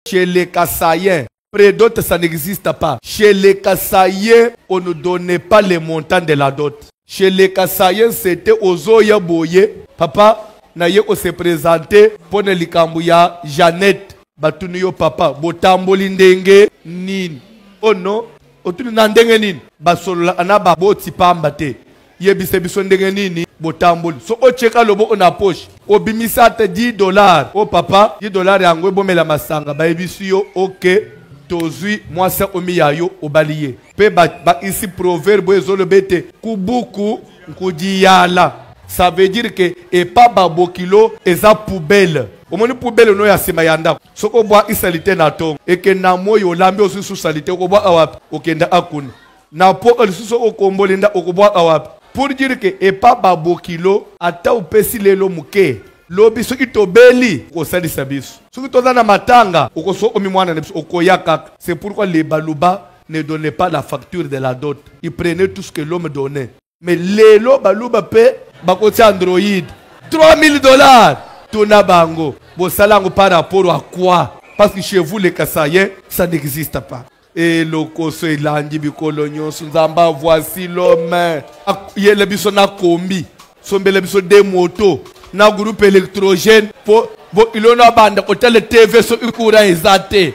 Chez les Kasaïens, près d'autres, ça n'existe pas. Chez les Kasaïens, on ne donnait pas les montants de la dot. Chez les Kasaïens, c'était Ozoya Boye. Papa, naye ko se présenter pour ne likambo ya Jeannette. Batuni yo papa, botamboli ndenge nini? Oh non, otuni na ndenge nini? Basolola na baboti pamba te. yebisa biso ndenge nini botamboli so otyeka loboko na poche obimisa ata 10 dollar o oh, papa 10 dollar yango ebomela masanga bayebisi yo oke tozwi mwasi akomi ya yo obali ye mpe bakisi proverbe oyo ezoloba ete kubuku nkudiyala ça veut dire ke epa babokilo eza poubele omoni poubele no ya nsima ya ndako soki obwakisa lite na ntongo ekenda moi olambi ozwi susa lite okobwaka wapi okenda akuna na po oyo lisusu okomboli nda okobwaka wapi pour dire ke epa babokilo ata opesi lelo moke lobi soki tobeli okosalisa biso soki toza na matanga okosokomi mwana na biso okoya kaka c'est pourquoi les baluba ne donnait pas la facture de la dot il prenait tout ce que l'homme donnait mais lelo baluba pe bakotia android 3000 dollars tuna bango bosala yango par rapport à quoi parce que chez vous les kasayen ça n'existe pas elokoso elandi bikolo nyonso nzambe avoisi lome yele biso na kombi sombela biso de moto na groupe électrogène po bo ilona banda kotala tv soki courant eza te